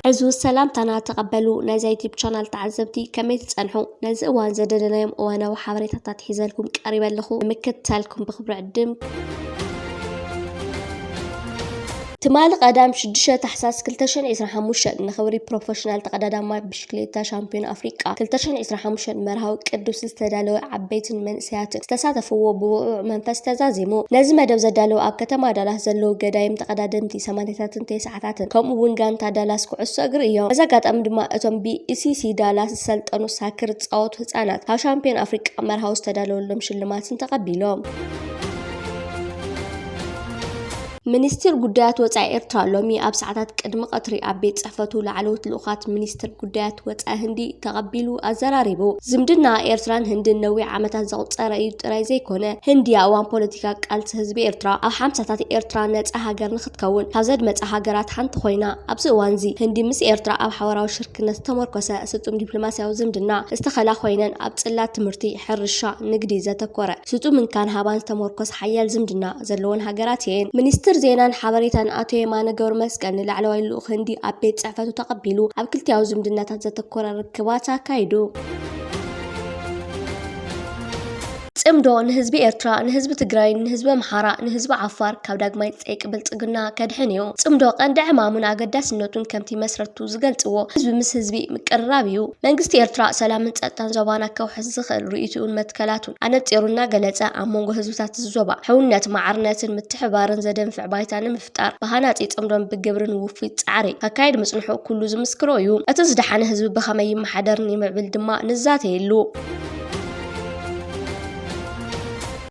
ዕዙዝ ሰላምታና ተቐበሉ ናይዛ ዩቲብ ቻናል ተዓዘብቲ ከመይ ትጸንሑ ነዚ እዋን ዘደለናዮም እዋናዊ ሓበሬታታት ሒዘልኩም ቀሪበ ኣለኹ ንምክትታልኩም ብክብሪ ዕድም ትማሊ ቀዳም ሽዱሽተ ታሕሳስ ክልተ ሽሕን ዒስራን ሓሙሽተን ንኽብሪ ፕሮፈሽናል ተቐዳዳማይ ብሽክሌታ ሻምፒዮን ኣፍሪቃ ክልተ ሽሕን ዒስራን ሓሙሽተን መርሃዊ ቅዱስ ዝተዳለወ ዓበይትን መንእሰያትን ዝተሳተፍዎ ብውዕዉዕ መንፈስ ተዛዚሙ። ነዚ መደብ ዘዳለዉ ኣብ ከተማ ዳላስ ዘለዉ ገዳይም ተቐዳደምቲ ሰማንያታትን ተስዓታትን ከምኡ'ውን ጋንታ ዳላስ ኩዕሶ እግሪ እዮም። በዚ ኣጋጣሚ ድማ እቶም ብኢሲሲ ዳላስ ዝሰልጠኑ ሳክር ዝጻወቱ ህጻናት ካብ ሻምፒዮን ኣፍሪቃ መርሃዊ ዝተዳለወሎም ሽልማትን ተቐቢሎም። ሚኒስትር ጉዳያት ወፃኢ ኤርትራ ሎሚ ኣብ ሰዓታት ቅድሚ ቐትሪ ኣብ ቤት ፅሕፈቱ ላዕለዎት ልኡኻት ሚኒስትር ጉዳያት ወፃኢ ህንዲ ተቐቢሉ ኣዘራሪቡ። ዝምድና ኤርትራን ህንድን ነዊሕ ዓመታት ዘቑፀረ እዩ ጥራይ ዘይኮነ፣ ህንዲ ኣብ እዋን ፖለቲካ ቃልሲ ህዝቢ ኤርትራ ኣብ ሓምሳታት ኤርትራ ነፃ ሃገር ንክትከውን ካብ ዘድመፃ ሃገራት ሓንቲ ኮይና። ኣብዚ እዋንዚ ህንዲ ምስ ኤርትራ ኣብ ሓበራዊ ሽርክነት ዝተሞርኮሰ ስጡም ዲፕሎማሲያዊ ዝምድና ዝተኸላ ኮይነን ኣብ ፅላት ትምህርቲ፣ ሕርሻ፣ ንግዲ ዘተኮረ ስጡም እንካን ሃባን ዝተሞርኮሰ ሓያል ዝምድና ዘለወን ሃገራት እየን። ሚኒስትር ዜናን ሓበሬታን ኣቶ የማነ ገብረመስቀል ንላዕለዋይ ልኡኽ ህንዲ ኣብ ቤት ጽሕፈቱ ተቐቢሉ ኣብ ክልቲኣዊ ዝምድናታት ዘተኮረ ርክባት ኣካይዱ። ጽምዶ ንህዝቢ ኤርትራ፣ ንህዝቢ ትግራይን ንህዝቢ ኣምሓራ፣ ንህዝቢ ዓፋር ካብ ዳግማይ ጸይቂ ብልጽግና ከድሕን እዩ። ጽምዶ ቀንዲ ዕማሙን ኣገዳስነቱን ከምቲ መስረትቱ ዝገልጽዎ ህዝቢ ምስ ህዝቢ ምቅርራብ እዩ። መንግስቲ ኤርትራ ሰላምን ጸጥታን ዞባና ከውሕስ ዝኽእል ርእይትኡን መትከላቱን፣ ኣነጺሩ እናገለጸ፣ ኣብ መንጎ ህዝብታት እዚ ዞባ፣ ሕውነት፣ ማዕርነትን ምትሕብባርን ዘደንፍዕ ባይታ ንምፍጣር፣ ብሃናጺ ጽምዶን ብግብሪን ውፉይ ጻዕሪ ከካይድ ምጽንሑ ኩሉ ዝምስክሮ እዩ። እቲ ዝደሓነ ህዝቢ ብኸመይ ይመሓደርን ይምዕብል ድማ ንዛተየሉ።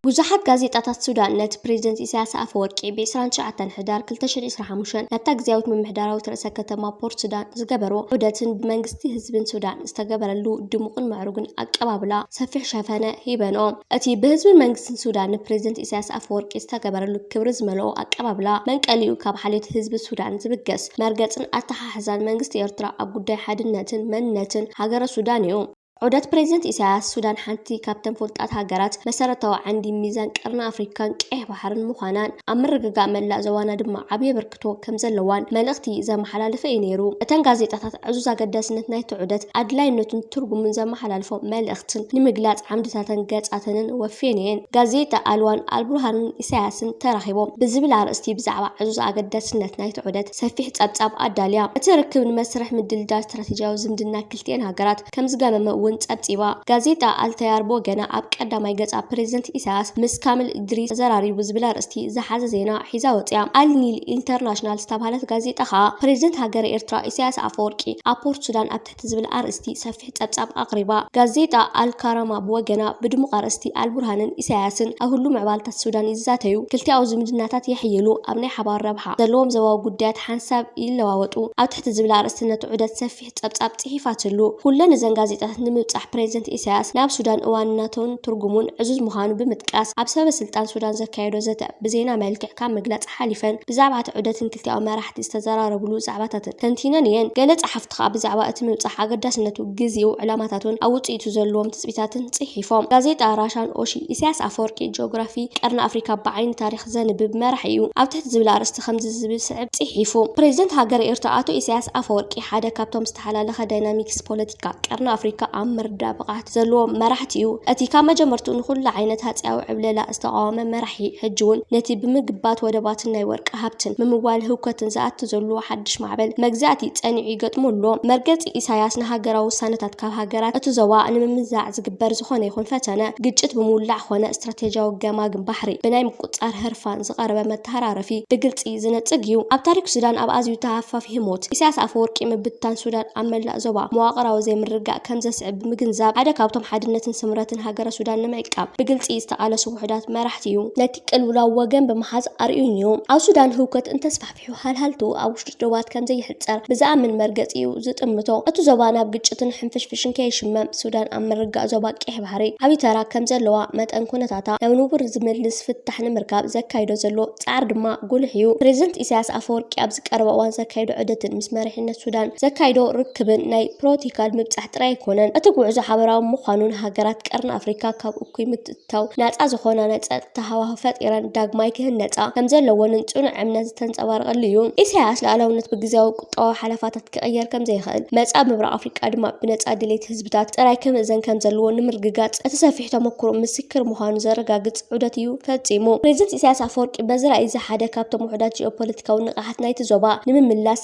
ብዙሓት ጋዜጣታት ሱዳን ነቲ ፕሬዝደንት ኢሳያስ ኣፈወርቂ ብ ዕስራን ትሽዓተን ሕዳር ክልተ ሽሕን ዒስራን ሓሙሽተን ናብታ ግዝያዊት ምምሕዳራዊት ርእሰ ከተማ ፖርት ሱዳን ዝገበርዎ ዑደትን ብመንግስቲ ህዝብን ሱዳን ዝተገበረሉ ድሙቕን ምዕሩግን ኣቀባብላ ሰፊሕ ሸፈነ ሂበንኦ። እቲ ብህዝብን መንግስትን ሱዳን ንፕረዚደንት ኢሳያስ ኣፈወርቂ ዝተገበረሉ ክብሪ ዝመልኦ ኣቀባብላ፣ መንቀሊኡ ካብ ሓልዮት ህዝቢ ሱዳን ዝብገስ መርገጽን ኣተሓሕዛን መንግስቲ ኤርትራ ኣብ ጉዳይ ሓድነትን መንነትን ሃገረ ሱዳን እዩ። ዑደት ፕረዚደንት ኢሳያስ፣ ሱዳን ሓንቲ ካብተን ፍሉጣት ሃገራት፣ መሰረታዊ ዓንዲ ሚዛን ቀርኒ ኣፍሪካን ቀይሕ ባሕርን ምዃናን፣ ኣብ ምርግጋእ መላእ ዞባና ድማ ዓቢ ክትኣቱ ከም ዘለዋን መልእኽቲ ዘመሓላለፈ እዩ ነይሩ። እተን ጋዜጣታት ዕዙዝ ኣገዳስነት ናይቲ ዑደት፣ ኣድላይነቱን ትርጉሙን ዘመሓላልፎ መልእኽትን ንምግላጽ ዓምድታተን ገጻተንን ወፍየን እየን። ጋዜጣ ኣልዋን ኣልቡርሃንን ኢሳያስን ተራኺቦም ብዝብል ኣርእስቲ ብዛዕባ ዕዙዝ ኣገዳስነት ናይቲ ዑደት ሰፊሕ ጸብጻብ ኣዳልያ። እቲ ርክብ ንመስርሕ ምድልዳል ስትራቴጂያዊ ዝምድና ክልቲኤን ሃገራት፣ ከምዝገመመ እውን ፀብፂባ። ጋዜጣ ኣልተያር ብወገና ኣብ ቀዳማይ ገፃ ፕረዚደንት ኢሳያስ ምስ ካሚል እድሪስ ተዘራሪቡ ዝብል ኣርእስቲ ዝሓዘ ዜና ሒዛ ወፂኣ። ኣል ኒል ኢንተርናሽናል ዝተብሃለት ጋዜጣ ከዓ ፕረዚደንት ሃገረ ኤርትራ ኢሳያስ ኣፈወርቂ ኣብ ፖርት ሱዳን ኣብ ትሕቲ ዝብል ኣርእስቲ ሰፊሕ ፀብፃብ ኣቕሪባ። ጋዜጣ ኣል ካራማ ብወገና ብድሙቕ ኣርእስቲ ኣል ቡርሃንን ኢሳያስን ኣብ ህሉው ምዕባለታት ሱዳን ይዛተዩ፣ ክልቲኣዊ ዝምድናታት የሕይሉ፣ ኣብ ናይ ሓባር ረብሓ ዘለዎም ዞባዊ ጉዳያት ሓንሳብ ይለዋወጡ ኣብ ትሕቲ ዝብል ኣርእስቲ ነቲ ዑደት ሰፊሕ ጸብጻብ ጽሒፋትሉ። ኩለን እዘን ጋዜጣታት ንምብጻሕ ፕረዚደንት ኢሳያስ ናብ ሱዳን እዋንነቱን ትርጉሙን ዕዙዝ ምዃኑ ብምጥቃስ ኣብ ሰበስልጣን ሱዳን ዘካየዶ ዘተ ብዜና መልክዕ ካብ ምግላጽ ሓሊፈን ብዛዕባ'ቲ ዑደትን ክልቲኣዊ መራሕቲ ዝተዘራረቡሉ ዛዕባታትን ተንቲነን እየን። ገለ ጸሓፍቲ ከኣ ብዛዕባ እቲ ምብጻሕ ኣገዳስነቱ፣ ግዜኡ፣ ዕላማታቱን ኣብ ውጽኢቱ ዘለዎም ትጽቢታትን ጽሒፎም። ጋዜጣ ራሻን ኦሺ፣ ኢሳያስ ኣፈወርቂ ጂኦግራፊ ቀርኒ ኣፍሪካ ብዓይኒ ታሪኽ ዘንብብ መራሒ'ዩ ኣብ ትሕቲ ዝብል ኣርእስቲ ከምዚ ዝስዕብ ጽሒፉ። ፕረዚደንት ሃገረ ኤርትራ ኣቶ ኢሳያስ ኣፈወርቂ፣ ሓደ ካብቶም ዝተሓላለኸ ዳይናሚክስ ፖለቲካ ቀርኒ ኣፍሪካ ኣብ ምርዳእ ብቕዓት ዘለዎም መራሕቲ እዩ። እቲ ካብ መጀመርትኡ ንኹሉ ዓይነት ሃጺያዊ ዕብለላ ዝተቓወመ መራሒ፣ ሕጂ'ውን ነቲ ብምግባት ወደባትን ናይ ወርቂ ሃብትን ምምዋል ህውከትን ዝኣቱ ዘሎ ሓድሽ ማዕበል መግዛእቲ ጸኒዑ ይገጥሞ ኣሎ። መርገጺ ኢሳይያስ ንሃገራዊ ውሳነታት ካብ ሃገራት እቲ ዞባ ንምምዛዕ ዝግበር ዝኾነ ይኹን ፈተነ፣ ግጭት ብምውላዕ ኾነ ስትራቴጂያዊ ገማግም ባሕሪ ብናይ ምቁጽጻር ህርፋን ዝቐረበ መተሃራረፊ ብግልጺ ዝነጽግ እዩ። ኣብ ታሪኽ ሱዳን ኣብ ኣዝዩ ተሃፋፊ ህሞት፣ ኢሳያስ ኣፈወርቂ ምብትታን ሱዳን ኣብ መላእ ዞባ መዋቕራዊ ዘይምርግጋእ ከም ዘስዕብ ብምግንዛብ፣ ሓደ ካብቶም ሓድነትን ስምረትን ሃገረ ሱዳን ንምዕቃብ ብግልጺ ዝተቓለሱ ውሑዳት መራሕቲ እዩ። ነቲ ቅልውላው ወገን ብምሓዝ ኣርእዩን እዩ። ኣብ ሱዳን ህውከት እንተስፋሕፍሕ፣ ሓልሃልቱ ኣብ ውሽጢ ዶባት ከም ዘይሕጸር ብዝኣምን መርገጺኡ ዝጥምቶ፣ እቲ ዞባ ናብ ግጭትን ሕንፍሽፍሽን ከይሽመም ሱዳን ኣብ ምርጋእ ዞባ ቀይሕ ባሕሪ ዓቢ ተራ ከም ዘለዋ መጠን ኩነታታ ናብ ንቡር ዝምልስ ፍታሕ ንምርካብ ዘካይዶ ዘሎ ጻዕሪ ድማ ጉሉሕ እዩ። ፕረዚደንት ኢሳያስ ኣፈወርቂ ኣብዚ ቀረባ እዋን ዘካይዶ ዑደትን ምስ መሪሕነት ሱዳን ዘካይዶ ርክብን ናይ ፕሮቶካል ምብጻሕ ጥራይ ኣይኮነን። እቲ ጉዕዞ ሓበራዊ ምዃኑን ሃገራት ቀርኒ ኣፍሪካ ካብ እኩይ ብምእታው ናጻ ዝኾና ናይ ጸጥታ ሃዋህው ፈጢረን ዳግማይ ክህነጻ ከምዘለወንን ጽኑዕ እምነት ዝተንጸባረቐሉ እዩ። ኢሳያስ ልኣላውነት ብግዝያዊ ቁጠባዊ ሓለፋታት ክቕየር ከምዘይኽእል፣ መጻኢ ምብራቕ ኣፍሪቃ ድማ ብነጻ ድሌት ህዝብታት ጥራይ ክምእዘን ከምዘለዎ ንምርግጋጽ እቲ ሰፊሕ ተመኩሮ ምስክር ምዃኑ ዘረጋግጽ ዑደት እዩ ፈጺሙ። ፕረዚደንት ኢሳያስ ኣፈወርቂ በዚ ራእይ'ዚ ሓደ ካብቶም ውሑዳት ጂኦፖለቲካዊ ንቕሓት ናይቲ ዞባ ንምምላስ፣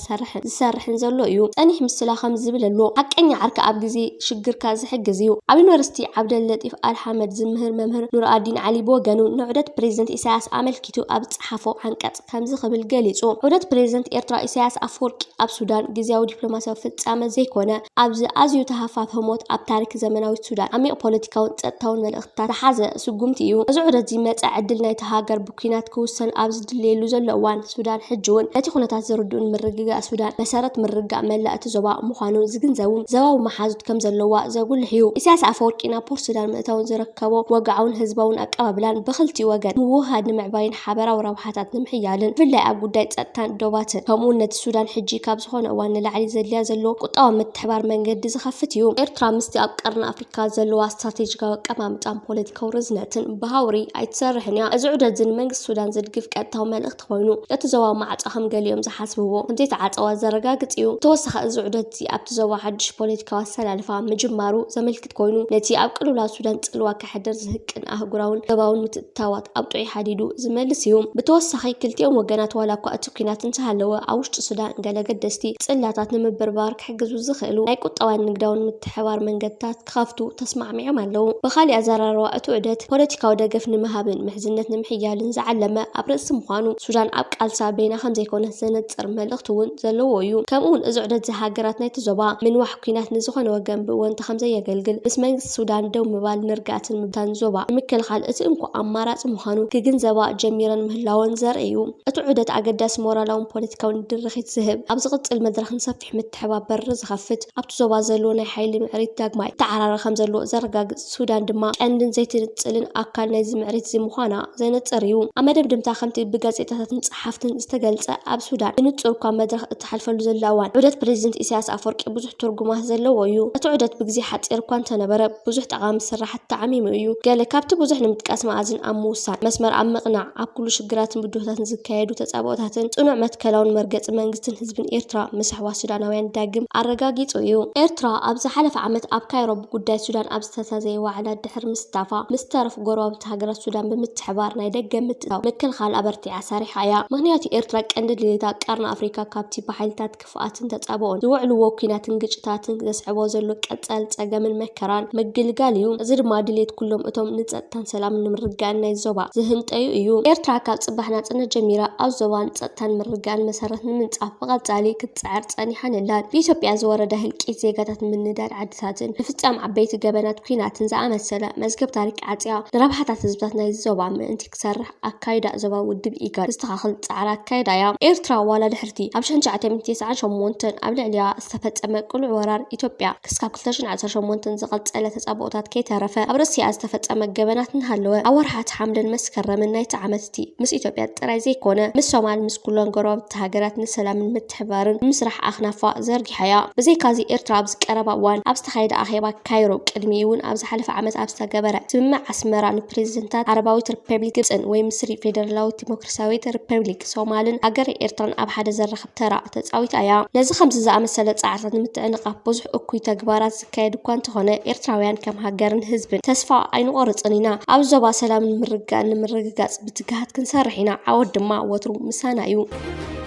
ዝሰርሕን ዝሰርሕን ዘሎ እዩ። ጸኒሕ ምስላ ከምዚ ዝብል ኣሎ፣ ሓቀኛ ዓርኪ ኣብ ግዜ ሽግርካ ዝሕግዝ እዩ። ኣብ ዩኒቨርሲቲ ዓብደል ለጢፍ ኣል ሓመድ ዝምህር መምህር ኑርኣዲን ዓሊ ብወገኑ ንዑደት ፕረዚደንት ኢሳያስ ኣመልኪቱ ኣብ ዝጸሓፎ ዓንቀጽ ከምዚ ክብል ገሊጹ፣ ዑደት ፕረዚደንት ኤርትራ ኢሳያስ ኣፈወርቂ ኣብ ሱዳን ግዝያዊ ዲፕሎማስያዊ ፍጻመ ዘይኮነ፣ ኣብዚ ኣዝዩ ተሃፋፊ ህሞት ኣብ ታሪክ ዘመናዊት ሱዳን ዓሚቕ ፖለቲካውን ጸጥታውን መልእኽትታት ዝሓዘ ስጉምቲ እዩ። እዚ ዑደት'ዚ መጻኢ ዕድል ናይታ ሃገር ብ። ኲናት ክውሰን ኣብ ዝድለየሉ ዘሎ እዋን፣ ሱዳን ሕጂ'ውን ነቲ ኩነታት ዝርድኡን ምርግጋእ ሱዳን መሰረት ምርግጋእ መላእ እቲ ዞባ ምዃኑ ዝግንዘቡን ዞባዊ መሓዙት ከም ዘለዋ ዘጉልሕ እዩ። ኢሳያስ ኣፈወርቂ ናብ ፖርት ሱዳን ምእታዉ ዝረከቦ ወግዓውን ህዝባውን ኣቀባብላን ብኽልቲኡ ወገን ምውህሃድ ንምዕባይን ሓበራዊ ረብሓታት ንምሕያልን ብፍላይ ኣብ ጉዳይ ጸጥታን ዶባትን ከምኡ'ውን ነቲ ሱዳን ሕጂ ካብ ዝኾነ እዋን ንላዕሊ ዘድልያ ዘሎ ቁጠባዊ ምትሕብባር መንገዲ ዝኸፍት እዩ። ኤርትራ ምስቲ ኣብ ቀርኒ ኣፍሪካ ካብ ዘለዋ ስትራቴጂካዊ ኣቀማምጣን ፖለቲካዊ ርዝነትን ብሃውሪ ኣይትሰርሕን እያ። እዚ ዑደት'ዚ ንመንግስቲ ሱዳን ዝድግፍ ቀጥታዊ መልእኽቲ ኮይኑ፣ እቲ ዞባዊ ማዕጾ ከም ገሊኦም ዝሓስብዎ ከምዘይተዓጸወ ዘረጋግጽ እዩ። ብተወሳኺ እዚ ዑደት'ዚ ኣብቲ ዞባ ሓድሽ ፖለቲካዊ ኣሰላልፋ ምጅማሩ ዘመልክት ኮይኑ፣ ነቲ ኣብ ቅልውላው ሱዳን ጽልዋ ከሕድር ዝህቅን ኣህጉራውን ዞባውን ምትእትታዋት ኣውጢዑ ሓዲዱ ዝመልስ እዩ። ብተወሳኺ ክልቲኦም ወገናት ዋላኳ እቲ ኲናት እንተሃለወ ኣብ ውሽጢ ሱዳን ገለ ኣገደስቲ ጽላታት ንምብርባር ክሕግዙ ዝኽእሉ ናይ ቁጠባን ንግዳውን ምትሕብባር መንገድታት ክኸፍቱ ተስማዕሚዖም ኣለዉ። ብኻሊእ ኣዘራርባ እቲ ዑደት ፖለቲካዊ ደገፍ ንምሃብን ምሕዝነት ንምሕያልን ዝዓለመ ኣብ ርእሲ ምዃኑ ሱዳን ኣብ ቃልሳ በይና ከምዘይኮነት ዘነጽር መልእኽቲ እውን ዘለዎ እዩ። ከምኡውን እዚ ዑደት እዚ ሃገራት ናይቲ ዞባ ምንዋሕ ኲናት ንዝኾነ ወገን ብእወንታ ከምዘየገልግል ምስ መንግስቲ ሱዳን ደው ምባል ንርግኣትን ምብታን ዞባ ንምክልኻል እቲ እንኮ ኣማራጺ ምዃኑ ክግንዘባ ጀሚረን ምህላወን ዘርኢ እዩ። እቲ ዑደት ኣገዳሲ ሞራላውን ፖለቲካውን ድርኺት ዝህብ፣ ኣብ ዝቕጽል መድረኽ ንሰፊሕ ምትሕብባር በሪ ዝኸፍት፣ ኣብቲ ዞባ ዘሎ ናይ ሓይሊ ምዕሪት ዳግማይ ይተዓራረ ከምዘሎ ዘረጋግጽ፣ ሱዳን ድማ ቀንድን ዘይትንጽልን ኣካል ናይዚ ምዕሪት'ዚ ምዃና ዘነጽር እዩ። ኣብ መደምደምታ ከምቲ ብጋዜጣታትን ጸሓፍትን ዝተገልጸ ኣብ ሱዳን ብንጹር'ኳ መድረኽ እትሓልፈሉ ዘላ እዋን፣ ዑደት ፕረዚደንት ኢሳያስ ኣፍወርቂ ብዙሕ ትርጉማት ዘለዎ እዩ። እቲ ዑደት ብግዜ ሓጺር'ኳ እንተነበረ ብዙሕ ጠቓሚ ስራሕቲ፣ ተዓሚሙ እዩ። ገለ ካብቲ ብዙሕ ንምጥቃስ መኣዝን ኣብ ምውሳን፣ መስመር ኣብ ምቕናዕ፣ ኣብ ኩሉ ሽግራትን ብድሆታትን ዝካየዱ ተጻብኦታትን ጽኑዕ መትከላውን መርገጺ መንግስትን ህዝብን ኤርትራ ምስሕዋስ ሱዳናውያን ዳግም ኣረጋጊጹ እዩ። ኤርትራ ኣብ ዝሓለፈ ዓመት ኣብ ካይሮ ብጉዳይ ሱዳን ኣብ ዝተዛዘየ ዋዕላ ድሕሪ ምስታፋ፣ ምስ ተረፉ ጎረባብቲ ሃገራት ሱዳን ብምትሕብባር ናይ ደገ ምትእትታው ምክልኻል ኣበርቲዓ ሰሪሓ እያ። ምኽንያቱ ኤርትራ ቀንዲ ድሌታ ቀርኒ ኣፍሪካ ካብቲ ብሓይልታት ክፍኣትን ተጻብኦን፣ ዝውዕልዎ ኲናትን ግጭታትን ዘስዕቦ ዘሎ ቀጻሊ ጸገምን መከራን ምግልጋል እዩ። እዚ ድማ ድሌት ኩሎም እቶም ንጸጥታን ሰላምን ንምርግጋእን ናይ ዞባ ዝህንጠዩ እዩ። ኤርትራ ካብ ጽባሕ ናጽነት ጀሚራ ኣብ ዞባ ንጸጥታን ምርግጋእን መሰረት ንምንጻፍ ብቐጻሊ ክትጽዕር ጸኒሓን ኣላን። ብኢትዮጵያ ዝወረደ ህልቂት ዜጋታትን ምንዳድ ዓድታትን፣ ምፍጻም ዓበይቲ ገበናት ኲናትን ዝኣመሰለ መዝገብ ታሪክ ዓጽያ፣ ንረብሓታት ህዝብታት ናይዚ ዞባ ምእንቲ ክሰርሕ፣ ኣካይዳ ዞባዊ ውድብ ኢጋድ ዘስተኻኽል ጻዕሪ ኣካይዳ እያ። ኤርትራ ዋላ ድሕሪ'ቲ ኣብ ሽሕን ትሽዓተን ቴስዓን ሸሞንተን ኣብ ልዕሊኣ ዝተፈጸመ ቅሉዕ ወራር ኢትዮጵያ ክስካብ ክልተ ሽሕን ዓሰርተ ሸሞንተን ዝቐጸለ ተጻብኦታት ከይተረፈ ኣብ ርእሲኣ ዝተፈጸመ ገበናት እናሃለወ ኣብ ወርሓት ሓምለን መስከረምን ናይቲ ዓመት'ቲ ምስ ኢትዮጵያ ጥራይ ዘይኮነ ምስ ሶማል ምስ ኩለን ጎረባብቲ ሃገራት ንሰላምን ምትሕብባርን ንምስራሕ ኣኽናፋ ዘርጊሓ'ያ። ብዘይካ'ዚ ኤርትራ ኣብዚ ቀረባ እዋን ኣብ ዝተኻየደ ኣኼባ ካይሮ፣ ቅድሚኡ'ውን ኣብ ዝሓለፈ ዓመት ኣብ ዝተገበረ ስምምዕ ኣስመራ ንፕረዚደንታት ዓረባዊት ሪፐብሊክ ግብጽን ወይ ምስሪ ፌደራላዊት ዲሞክራስያዊት ሪፐብሊክ ሶማልን ሃገረ ኤርትራን ኣብ ሓደ ዘራኽብ ተራ ተጻዊታ'ያ። ነዚ ከምዚ ዝኣመሰለ ጻዕርታት ንምትዕንቓፍ ብዙሕ እኩይ ተግባራት ዝካየድ እኳ እንተኾነ፣ ኤርትራውያን ከም ሃገርን ህዝብን ተስፋ ኣይንቖርጽን ኢና። ኣብዚ ዞባ ሰላምን ምርግጋእን ንምርግጋጽ ብትግሃት ክንሰርሕ ኢና፣ ዓወት ድማ ወትሩ ምሳና'ዩ።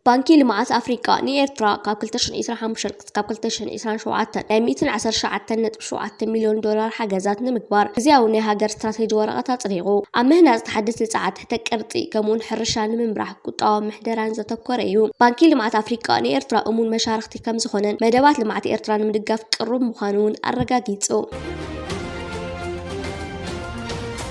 ባንኪ ልምዓት ኣፍሪቃ ንኤርትራ ካብ 2025 ክሳብ 2027 ናይ 119.7 ሚልዮን ዶላር ሓገዛት ንምግባር ግዝያዊ ናይ ሃገር ስትራቴጂ ወረቐት ኣጽዲቑ። ኣብ ምህናጽ ተሓደስቲ ጸዓት ትሕተ ቅርጺ ከምኡውን ሕርሻ ንምምራሕ ቁጠባዊ ምሕደራን ዘተኮረ እዩ። ባንኪ ልምዓት ኣፍሪቃ ንኤርትራ እሙን መሻርኽቲ ከም ዝኾነን መደባት ልምዓት ኤርትራ ንምድጋፍ ቅሩብ ምዃኑ እውን ኣረጋጊጹ።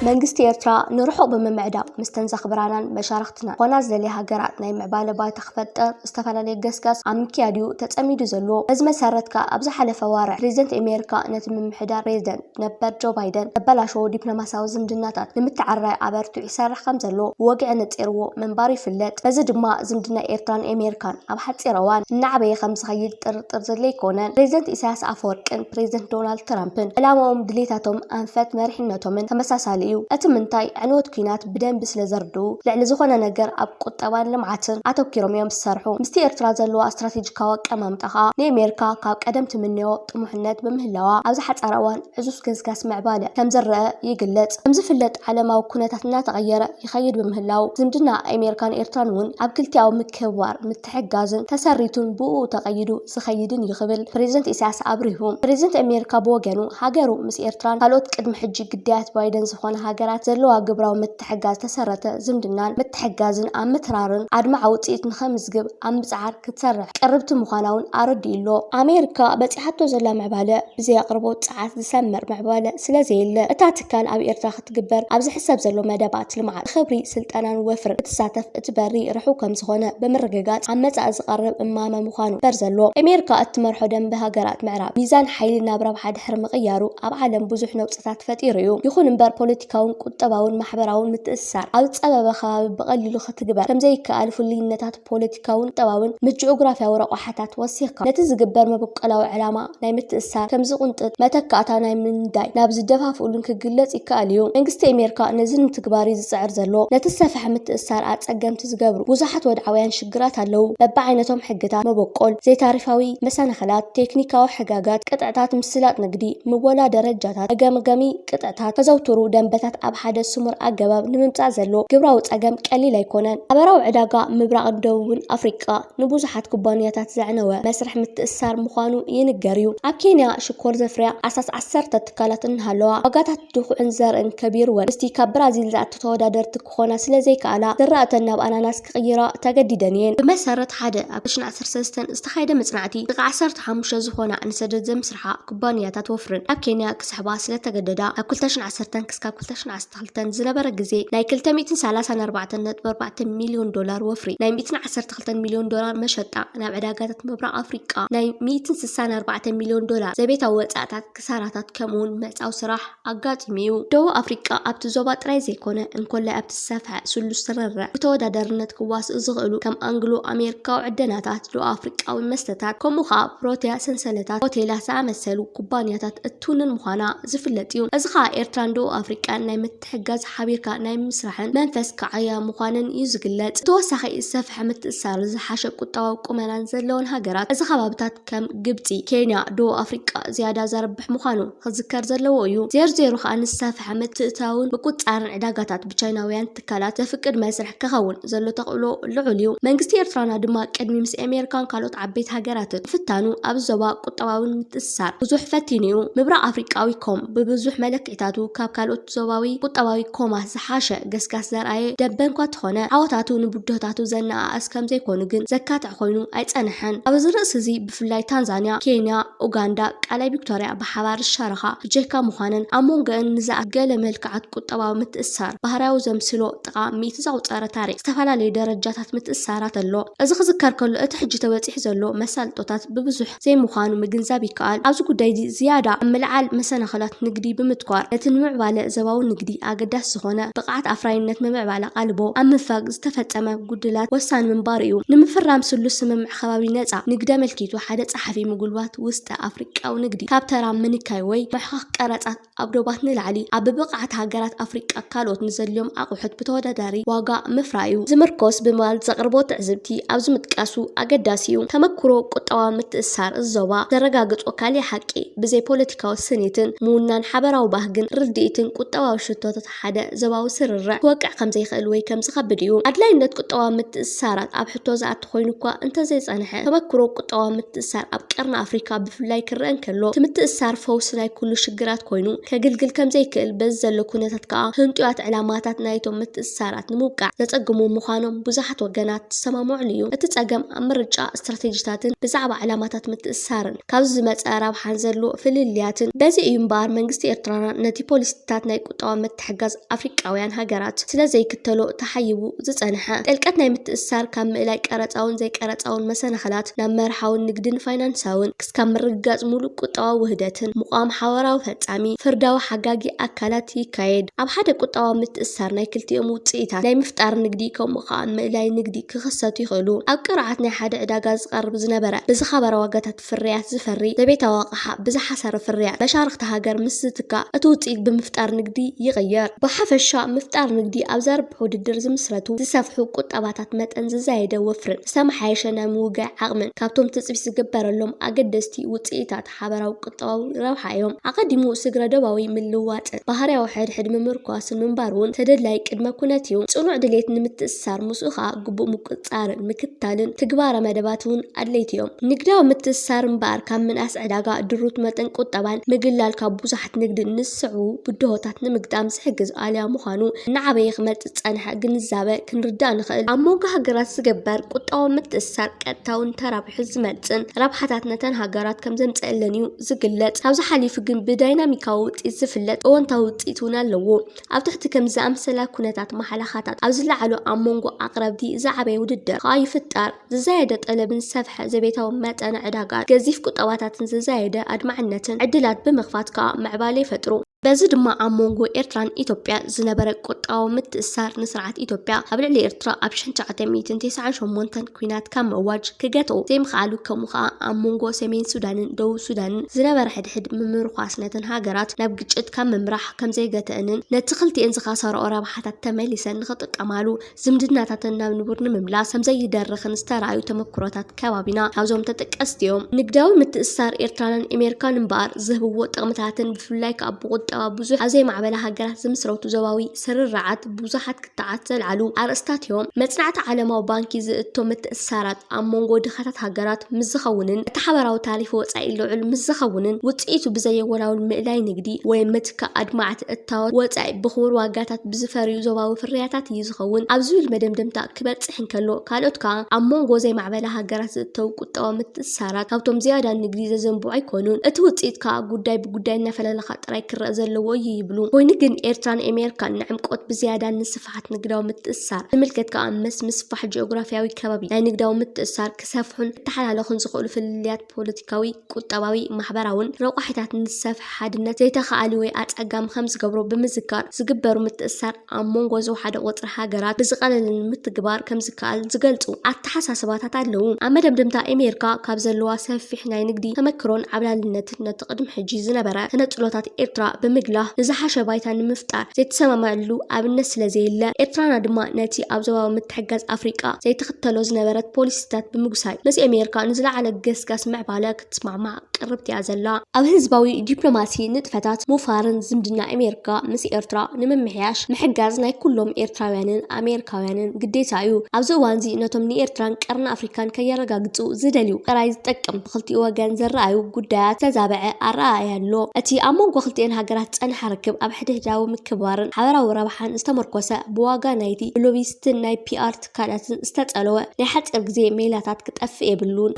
መንግስቲ ኤርትራ ንርሑቕ ብምምዕዳው ምስተን ዘኽብራናን መሻርኽትናን ዝኾና ዝደልያ ሃገራት ናይ ምዕባለ ባይታ ክፈጥር ዝተፈላለየ ገስጋስ ኣብ ምክያድ'ዩ ተጸሚዱ ዘሎ። በዚ መሰረት ከኣ ኣብ ዝሓለፈ ኣዋርሕ ፕረዚደንት ኣሜሪካ ነቲ ምምሕዳር ፕረዚደንት ነበር ጆ ባይደን ዘበላሸዎ ዲፕሎማስያዊ ዝምድናታት ንምትዕርራይ ኣበርቲዑ ይሰርሕ ከምዘሎ ብወግዒ ነጺርዎ ምንባሩ ይፍለጥ። በዚ ድማ ዝምድና ኤርትራን ኣሜሪካን ኣብ ሓጺር እዋን እናዓበየ ከምዝኸይድ ጥር ጥርጥር ዘድለይኮነ ፕሬዝደንት ኢሳያስ ኣፈወርቅን ፕሬዝደንት ዶናልድ ትራምፕን ዕላማኦም ድሌታቶም ኣንፈት መሪሕነቶምን ተመሳሳሊ እዩ እቲ ምንታይ ዕንወት ኩናት ብደንቢ ስለ ዘርድኡ ልዕሊ ዝኾነ ነገር ኣብ ቁጠባን ልምዓትን ኣተኪሮም እዮም ዝሰርሑ ምስቲ ኤርትራ ዘለዋ እስትራቴጂካዊ ኣቀማምጣ ከኣ ንኤሜርካ ካብ ቀደም ትምነዮ ጥሙሕነት ብምህላዋ ኣብዚ ሓጻር እዋን ዕዙዝ ገስጋስ ምዕባለ ከም ዝረኣ ይግለጽ ከምዝፍለጥ ዓለማዊ ኩነታት እናተቐየረ ይኸይድ ብምህላው ዝምድና ኤሜርካን ኤርትራን እውን ኣብ ክልቲኣዊ ምክብባር ተሕጋዙን ተሰሪቱን ብኡኡ ተቐይዱ ዝኸይድን እዩ ክብል ፕረዚደንት ኢሳያስ ኣብሪሁ። ፕረዚደንት ኣሜሪካ ብወገኑ፣ ሃገሩ ምስ ኤርትራን ካልኦት ቅድሚ ሕጂ ግዳያት ባይደን ዝኾና ሃገራት ዘለዋ ግብራዊ ምትሕግጋዝ ዝተሰረተ ዝምድናን ምትሕግጋዝን ኣብ ምትራርን ኣድማዒ ውጽኢት ንኸምዝግብ ኣብ ምጽዓር ክትሰርሕ ቅርብቲ ምዃና'ውን ኣረዲኡ'ሎ። ኣሜሪካ በጺሓቶ ዘላ ምዕባለ ብዘይ ኣቕርቦት ጸዓት ዝሰመር ምዕባለ ስለዘየለ፣ እታ ትካል ኣብ ኤርትራ ክትግበር ኣብ ዝሕሰብ ዘሎ መደባት ልምዓት ብኽብሪ፣ ስልጠናን ወፍርን ክትሳተፍ እቲ በሪ ርሑው ከምዝኾነ ብምርግጋፅ ኣብ መፃኢ ዝቐርብ እማመ ምዃኑ ክግበር ዘለዎ። ኣሜሪካ እትመርሖ ደምበ ሃገራት ምዕራብ ሚዛን ሓይሊ ናብ ረብሓ ድሕሪ ምቕያሩ ኣብ ዓለም ብዙሕ ነውፅታት ፈጢሩ እዩ። ይኹን እምበር ፖለቲካውን ቁጠባውን ማሕበራውን ምትእስሳር ኣብ ዝፀበበ ከባቢ ብቐሊሉ ክትግበር ከምዘይከኣል ፍሉይነታት ፖለቲካውን ቁጠባውን ምጂኦግራፍያዊ ረቋሓታት ወሲኽካ፣ ነቲ ዝግበር መበቆላዊ ዕላማ ናይ ምትእስሳር፣ ከም ዝቕንጥጥ፣ መተካእታ ናይ ምንዳይ፣ ናብ ዝደፋፍኡሉን ክግለጽ ይከኣል እዩ። መንግስቲ ኤሜርካ ነዚ ንምትግባር እዩ ዝጽዕር ዘሎ። ነቲ ዝሰፈሐ ምትእስሳር ኣጸገምቲ ዝገብሩ ብዙሓት ወድዓውያን ሽግራት ኣለዉ። በብዓይነቶም ሕግታት፣ መበቆል፣ ዘይታሪፋዊ መሰናኽላት፣ ቴክኒካዊ ሕጋጋት፣ ቅጥዕታት፣ ምስላጥ ንግዲ፣ ምወላ ደረጃታት፣ መገምገሚ፣ ቅጥዕታት ዘዘውትሩ ደንበታት ኣብ ሓደ ስሙር ኣገባብ ንምምጻእ ዘሎ ግብራዊ ጸገም ቀሊል ኣይኮነን። ሓበራዊ ዕዳጋ ምብራቕን ደቡብን ኣፍሪቃ ንብዙሓት ኩባንያታት ዘዕነወ መስርሕ ምትእስሳር ምዃኑ ይንገር'ዩ። ኣብ ኬንያ ሽኮር ዘፍርያ ኣስታት ዓሰርተ ትካላት እናሃለዋ፣ ዋጋታት ድኹዕን ዘርእን ከቢሩወን ምስቲ ካብ ብራዚል ዝኣቱ ተወዳደርቲ ክኾና ስለ ዘይከኣላ፣ ዝራእተን ናብ ኣናናስ ክቕይራ ተገዲደን እየን። ብመሰረት ሓደ ኣብ ክሽነ ዓሰርተ ሰለስተ ዝተኻየደ መጽናዕቲ፣ ጥቓ ዓሰርተ ሓሙሽተ ዝኾና ኣንሰደት ዘምስርሓ ኩባንያታት ወፍርን ናብ ኬንያ ክስሕባ ስለ ተገደዳ፣ ካብ ክልተ ሽሕን ዓሰርተን ክስካብ ክልተ ሽሕን ዓሰርተ ክልተን ዝነበረ ግዜ ናይ ክልተ ሚእትን ሰላሳን ኣርባዕተን ነጥቢ ኣርባዕተ ሚልዮን ዶላር ወፍሪ፣ ናይ ሚእትን ዓሰርተ ክልተን ሚልዮን ዶላር መሸጣ ናብ ዕዳጋታት ምብራቕ ኣፍሪቃ፣ ናይ ሚእትን ስሳን ኣርባዕተን ሚልዮን ዶላር ዘቤታዊ ወጻእታት፣ ክሳራታት ከምኡውን ምዕጻው ስራሕ ኣጋጢሙ እዩ። ደቡብ ኣፍሪቃ ኣብቲ ዞባ ጥራይ ዘይኮነ እንኮላይ ኣብቲ ዝሰፍሐ ስሉስ ስርርዕ ብተወዳዳርነት ክዋስኡ ዝኽእሉ ከም ኣንግሎ ኣሜሪካዊ ዕደናታት፣ ደቡብ ኣፍሪቃዊ መስተታት፣ ከምኡ ኸኣ ፕሮተያ ሰንሰለታት ሆቴላት ዝኣመሰሉ ኩባንያታት እትውንን ምዃና ዝፍለጥ እዩ። እዚ ኸኣ ኤርትራን ደቡብ ኣፍሪቃን ናይ ምትሕግጋዝ ሓቢርካ ናይ ምስራሕን መንፈስ ክዓያ ምዃነን እዩ ዝግለጽ። ብተወሳኺ ዝሰፍሐ ምትእስሳርን ዝሓሸ ቁጠባዊ ቁመናን ዘለወን ሃገራት እዚ ከባብታት፣ ከም ግብጺ፣ ኬንያ፣ ደቡብ ኣፍሪቃ ዝያዳ ዘርብሕ ምዃኑ ክዝከር ዘለዎ እዩ። ዜርዜሩ ከኣ ንዝሰፍሐ ምትእትታውን ምቁጽጻርን ዕዳጋታት ብቻይናውያን ትካላት ዘፍቅድ መስርሕ ክኸውን ዘሎ ተኽእሎ ልዑል እዩ። መንግስቲ ኤርትራና ድማ ቅድሚ ምስ ኤሜሪካን ካልኦት ዓበይቲ ሃገራትን ምፍታኑ ኣብዚ ዞባ ቁጠባዊ ምትእስሳር ብዙሕ ፈቲኑ'ዩ። ምብራቕ ኣፍሪቃዊ ኮም ብብዙሕ መለክዒታት ብድሕሪታቱ ካብ ካልኦት ዞባዊ ቁጠባዊ ኮማት ዝሓሸ ገስጋስ ዘርኣየ ደምበ'ኳ እንተኾነ፣ ዓወታቱ ንብድሆታቱ ዘነኣእስ ከምዘይኮኑ ግን ዘካትዕ ኮይኑ ኣይጸንሐን። ኣብዚ ርእሲ'ዚ ብፍላይ ታንዛንያ፣ ኬንያ፣ ኡጋንዳ፣ ቃላይ ቪክቶርያ ብሓባር ዝሻረኻ ብጀካ ምዃነን፣ ኣብ ሞንጎኣን ንዝኣ ገለ መልክዓት ቁጠባዊ ምትእስሳር ባህርያዊ ዘምስሎ ጥቓ ሚእቲ ዘቑጸረ ታሪኽ ዝተፈላለዩ ደረጃታት ምትእስሳራት ኣሎ። እዚ ክዝከር ከሎ እቲ ሕጂ ተበጺሑ ዘሎ መሳልጦታት ብብዙሕ። ዘይምዃኑ ምግንዛብ ይከኣል። ኣብዚ ጉዳይ'ዚ ዝያዳ ኣብ ምልዓል መሰናኽላት ንግዲ ብምትኳር፣ ነቲ ንምዕባለ ዘባዊ ንግዲ ኣገዳሲ ዝኾነ ብቕዓት ኣፍራይነት ምምዕባል ኣቓልቦ ኣብ ምንፋግ ዝተፈጸመ ጉድላት ወሳኒ ምንባሩ'ዩ። ንምፍራም ስሉስ ስምምዕ ከባቢ ነጻ ንግዲ ኣመልኪቱ ሓደ ጸሓፊ ምጉልባት ውስጠ ኣፍሪቃዊ ንግዲ ካብ ተራ ምንካይ ወይ ምሕኻኽ ቀረጻት ኣብ ዶባት ንላዕሊ ኣብ ብብቕዓት ሃገራት ኣፍሪቃ ካልኦት ንዘድልዮም ኣቑሑት ብተወዳዳሪ ዋጋ ምፍራዩ ዝምርኮስ ብምባል ዘቕርቦ ትዕዝብቲ ኣብዚ ምጥቃሱ ኣገዳሲ እዩ። ተመኩሮ ቁጠባዊ ምትእስሳር እዚ ዞባ ዘረጋግጾ ካሊእ ሓቂ ብዘይ ፖለቲካዊ ስኒትን ምውናን ሓበራዊ ባህግን ርድኢትን ቁጠባዊ ሽቶታት ሓደ ዞባዊ ስርርዕ ክወቅዕ ከም ዘይክእል ወይ ከም ዝኸብድ እዩ። ኣድላይነት ቁጠባዊ ምትእስሳራት ኣብ ሕቶ ዝኣቲ ኮይኑ እኳ እንተ ዘይጸንሐ፣ ተመክሮ ቁጠባዊ ምትእስሳር ኣብ ቀርኒ ኣፍሪካ ብፍላይ ክረኣ እንከሎ፣ እቲ ምትእስሳር ፈውሲ ናይ ኩሉ ሽግራት ኮይኑ ከግልግል ከም ዘይክእል፣ በዚ ዘሎ ኩነታት ከኣ ህንጡያት ዕላማታት ናይቶም ምትእስሳራት ንምውቃዕ ዘጸግሙ ምዃኖም ብዙሓት ወገናት ዝሰማምዑሉ እዩ። እቲ ጸገም ኣብ ምርጫ ስትራቴጂታትን ብዛዕባ ዕላማታት ምትእስሳርን። ካብዚ ዝመጸ ረብሓን ዘሎ ፍልልያትን በዚ እዩ እምበኣር መንግስቲ ኤርትራና ነቲ ፖሊሲታት ናይ ቁጠባዊ ምትሕግጋዝ ኣፍሪቃውያን ሃገራት ስለ ዘይክተሎ ተሓይቡ ዝጸንሐ ጥልቀት ናይ ምትእስሳር ካብ ምእላይ ቀረጻውን ዘይቀረጻውን መሰናኽላት ናብ መርሓውን ንግድን ፋይናንሳውን ክስካብ ምርግጋጽ ምሉእ ቁጠባዊ ውህደትን ምቛም ሓበራዊ ፈጻሚ ፍርዳዊ ሓጋጊ ኣካላት ይካየድ ኣብ ሓደ ቁጠባዊ ምትእስሳር ናይ ክልቲኦም ውጽኢታት ናይ ምፍጣር ንግዲ ከምኡ ከኣ ምእላይ ንግዲ ክኽሰቱ ይኽእሉ። ኣብ ቅርዓት ናይ ሓደ ዕዳጋ ዝቐርብ ዝነበረ ብዝኸበረ ዋጋታት ፍርያት ዝፈሪ ዘቤታዊ ኣቕሓ ብዝሓሰረ ፍርያት መሻርኽቲ ሃገር ምስ ዝትካእ እቲ ውፅኢት ብምፍጣር ንግዲ ይቕየር። ብሓፈሻ ምፍጣር ንግዲ ኣብ ዘርብሕ ውድድር ዝምስረቱ ዝሰፍሑ ቁጠባታት መጠን ዝዛየደ ወፍርን ዝተመሓየሸ ናይ ምውጋይ ዓቕምን ካብቶም ትፅቢት ዝግበረሎም ኣገደስቲ ውፅኢታታ ሓበራዊ ቁጠባዊ ረብሓ እዮም። ኣቐዲሙ ስግረ-ዶባዊ ምልውዋጥን ባህርያዊ ሕድሕድ ምምርኳስን ምንባር እውን ተደላዪ ቅድመ ኩነት እዩ። ጽኑዕ ድሌት ንምትእስሳር፣ ምስኡ ከኣ ግቡእ ምቁጽጻርን ምክትታልን ትግባረ መደባት እውን ኣድለይቲ እዮም። ንግዳዊ ምትእስሳር እምበኣር ካብ ምንኣስ ዕዳጋ፣ ድሩት መጠን ቁጠባን ምግላል ካብ ብዙሓት ንግድን ንዝስዕቡ ብድሆታት ንምግጣም ዝሕግዝ ኣልያ ምዃኑ እናዓበየ ክመጽእ ዝጸንሐ ግንዛበ ክንርዳእ ንኽእል። ኣብ መንጎ ሃገራት ዝግበር ቁጠባዊ ምትእስሳር ቀጥታውን ተራብ። ውሕስ ዝመጽእን ረብሓታት ነተን ሃገራት ከም ዘምጸኣለን እዩ ዝግለጽ። ካብዚ ሓሊፉ ግን ብዳይናሚካዊ ውጽኢት ዝፍለጥ እወንታዊ ውጽኢት እውን ኣለዎ። ኣብ ትሕቲ ከምዚ ዝኣመሰላ ኩነታት ማሕለኻታት ኣብ ዝለዓሉ ኣብ መንጎ ኣቕረብቲ ዝዓበየ ውድድር ከኣ ይፍጠር። ዝዛየደ ጠለብን ዝሰፍሐ ዘቤታዊ መጠነ ዕዳጋን ገዚፍ ቁጠባታትን ዝዛየደ ኣድማዕነትን ዕድላት ብምኽፋት ከኣ ምዕባለ ይፈጥሩ። በዚ ድማ ኣብ ሞንጎ ኤርትራን ኢትዮጵያ ዝነበረ ቁጠባዊ ምትእስሳር ንስርዓት ኢትዮጵያ ኣብ ልዕሊ ኤርትራ ኣብ ሽሕን ትሽዓተ ሚእትን ተስዓን ሸሞንተን ኲናት ካብ ምእዋጅ ክገትኦ ዘይምኽኣሉ ከምኡ ከኣ ኣብ ሞንጎ ሰሜን ሱዳንን ደቡብ ሱዳንን ዝነበረ ሕድሕድ ምምርኳስ ነተን ሃገራት ናብ ግጭት ካብ ምምራሕ ከምዘይገተእንን ነቲ ክልቲኤን ዝኸሰርኦ ረብሓታት ተመሊሰን ንኽጥቀማሉ ዝምድናታተን ናብ ንቡር ንምምላስ ከምዘይደርኽን ዝተራእዩ ተመኩሮታት ከባቢና ካብዞም ተጠቀስቲ እዮም። ንግዳዊ ምትእስሳር ኤርትራንን ኤሜርካን እምበኣር ዝህብዎ ጥቕምታትን ብፍላይ ከኣ ብቑጠባ ብዙሕ ኣብ ዘይማዕበላ ሃገራት ዝምስረቱ ዞባዊ ስርርዓት ብዙሓት ክትዓት ዘልዓሉ ኣርእስታት እዮም። መጽናዕቲ ዓለማዊ ባንኪ ዝእቶ ምትእስሳራት፣ ኣብ መንጎ ድኻታት ሃገራት ምስ ዝኸውንን እቲ ሓባራዊ ታሪፍ ወጻኢ ልዑል ምስ ዝኸውንን ውጽኢቱ ብዘየወላውል ምእላይ ንግዲ ወይ ምትካእ ኣድማዕቲ እታወት ወጻኢ ብኽቡር ዋጋታት ብዝፈርዩ ዞባዊ ፍርያታት እዩ ዝኸውን ኣብ ዝብል መደምደምታ ክበጽሕ እንከሎ ካልኦት ከኣ ኣብ መንጎ ዘይማዕበላ ሃገራት ዝእተው ቁጠባዊ ምትእስሳራት ካብቶም ዝያዳ ንግዲ ዘዘንብዑ ኣይኮኑን እቲ ውጽኢት ከኣ ጉዳይ ብጉዳይ እናፈላለኻ ጥራይ ክረኣ ዘለዎ እዩ ይብሉ። ኮይኑ ግን ኤርትራን ኤሜርካን ንዕምቆት ብዝያዳ ንስፍሓት ስፍሓት ንግዳዊ ምትእስሳር ዝምልከት ከኣ ምስ ምስፋሕ ጂኦግራፍያዊ ከባቢ ናይ ንግዳዊ ምትእስሳር ክሰፍሑን ክተሓላለኹን ዝኽእሉ ፍልልያት ፖለቲካዊ፣ ቁጠባዊ፣ ማሕበራውን ረቋሒታት ንዝሰፍሐ ሓድነት ዘይተኻኣሊ ወይ ኣጸጋሚ ከምዝገብሮ ብምዝካር ዝግበሩ ምትእስሳር ኣብ ሞንጎ ዝወሓደ ቁጽሪ ሃገራት ብዝቐለለ ንምትግባር ከምዝከኣል ዝገልጹ ኣተሓሳስባታት ኣለዉ። ኣብ መደምደምታ ኤሜርካ ካብ ዘለዋ ሰፊሕ ናይ ንግዲ ተመክሮን ዓብላልነትን ነቶም። እቲ ቅድሚ ሕጂ ዝነበረ ተነጽሎታት ኤርትራ ብምግላህ ንዝሓሸ ባይታ ንምፍጣር ዘይተሰማምኣሉ ኣብነት ስለዘየለ፣ ኤርትራና ድማ ነቲ ኣብ ዞባዊ ምትሕግጋዝ ኣፍሪቃ ዘይትኽተሎ ዝነበረት ፖሊሲታት ብምጉሳይ ምስ ኤሜሪካ ንዝለዓለ ገስጋስ ምዕባለ ክትስማዕማዕ ቅርብቲ'ያ ዘላ። ኣብ ህዝባዊ ዲፕሎማሲ ንጥፈታት ምውፋርን ዝምድና ኤሜሪካ ምስ ኤርትራ ንምምሕያሽ ምሕጋዝ ናይ ኩሎም ኤርትራውያንን ኣሜሪካውያንን ግዴታ'ዩ። ኣብዚ እዋንዚ ነቶም ንኤርትራን ቀርኒ ኣፍሪቃን ከየረጋግጹ ዝደልዩ ጥራይ ዝጠቅም፣ ብኽልቲኡ ወገን ዝረኣዩ ጉዳያት ዝተዛበዐ ኣረኣእያ ኣሎ። እቲ ኣብ መንጎ ክልቲኤን ሃገራት ዝጸንሐ ርክብ ኣብ ሕድሕዳዊ ምክብባርን ሓበራዊ ረብሓን ዝተመርኮሰ፣ ብዋጋ ናይቲ ብሎቢስትን ናይ ፒኣር ትካላትን ዝተጸለወ ናይ ሓጺር ግዜ ሜላታት ክጠፍእ የብሉን።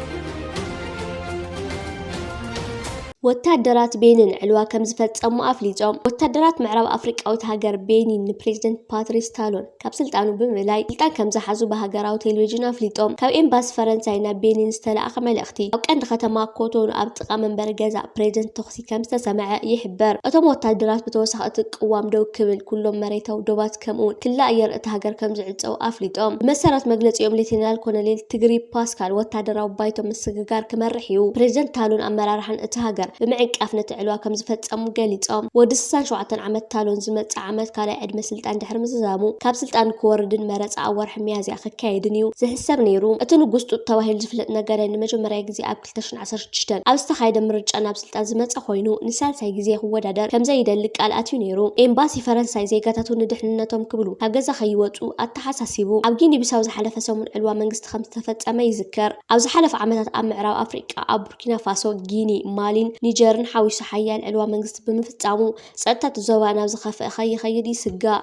ወተሃደራት ቤኒን ዕልዋ ከምዝፈጸሙ ኣፍሊጦም። ወተሃደራት ምዕራብ ኣፍሪቃዊት ሃገር ቤኒን ንፕሬዚደንት ፓትሪስ ታሎን፣ ካብ ስልጣኑ ብምእላይ ስልጣን ከምዝሓዙ ብሃገራዊ ቴሌቪዥን ኣፍሊጦም። ካብ ኤምባሲ ፈረንሳይ ናብ ቤኒን ዝተላእከ መልእኽቲ፣ ኣብ ቀንዲ ከተማ ኮቶኑ ኣብ ጥቓ መንበሪ ገዛ ፕሬዚደንት ተኹሲ ከምዝተሰምዐ ይሕብር። እቶም ወታደራት ብተወሳኺ እቲ ቅዋም ደው ክብል፣ ኩሎም መሬታዊ ዶባት ከምኡ'ውን ክሊ ኣየር እታ ሃገር ከምዝዕጸዉ ኣፍሊጦም። ብመሰረት መግለጺኦም ሌተናል ኮሎኔል ትግሪ ፓስካል ወታደራዊ ባይቶ ምስግጋር ክመርሕ እዩ፣ ፕሬዚደንት ታሎን ኣመራርሓን እታ ሃገር ብምዕንቃፍ ነቲ ዕልዋ ከምዝፈጸሙ ገሊጾም። ወዲ ስሳን ሸውዓተን ዓመት ታሎን ዝመጽእ ዓመት ካልኣይ ዕድመ ዕድመ ስልጣን ድሕሪ ምዝዛሙ ካብ ስልጣኑ ክወርድን መረጻ ኣብ ወርሒ ሚያዝያ ክካየድን እዩ ዝሕሰብ ነይሩ። እቲ ንጉስ ጡጥ ተባሂሉ ዝፍለጥ ነጋዳይ ንመጀመርያ ግዜ ኣብ ክልተ ሽሕን ዓሰርተ ሽዱሽተን ኣብ ዝተኻየደ ምርጫ ናብ ስልጣን ዝመጸ ኮይኑ ንሳልሳይ ግዜ ክወዳደር ከምዘይደሊ ቃል ኣትዩ ነይሩ። ኤምባሲ ፈረንሳይ ዜጋታቱ ንድሕንነቶም ክብሉ ካብ ገዛ ከይወጹ ኣተሓሳሲቡ። ኣብ ጊኒ ቢሳው ዝሓለፈ ሰሙን ዕልዋ መንግስቲ ከምዝተፈጸመ ይዝከር። ኣብ ዝሓለፉ ዓመታት ኣብ ምዕራብ ኣፍሪቃ ኣብ ቡርኪናፋሶ፣ ጊኒ፣ ማሊን ኒጀርን ሓዊሱ ሓያል ዕልዋ መንግስቲ ብምፍጻሙ፣ ጸጥታ እቲ ዞባ ናብ ዝኸፍአ ከይኸይድ ይስጋእ።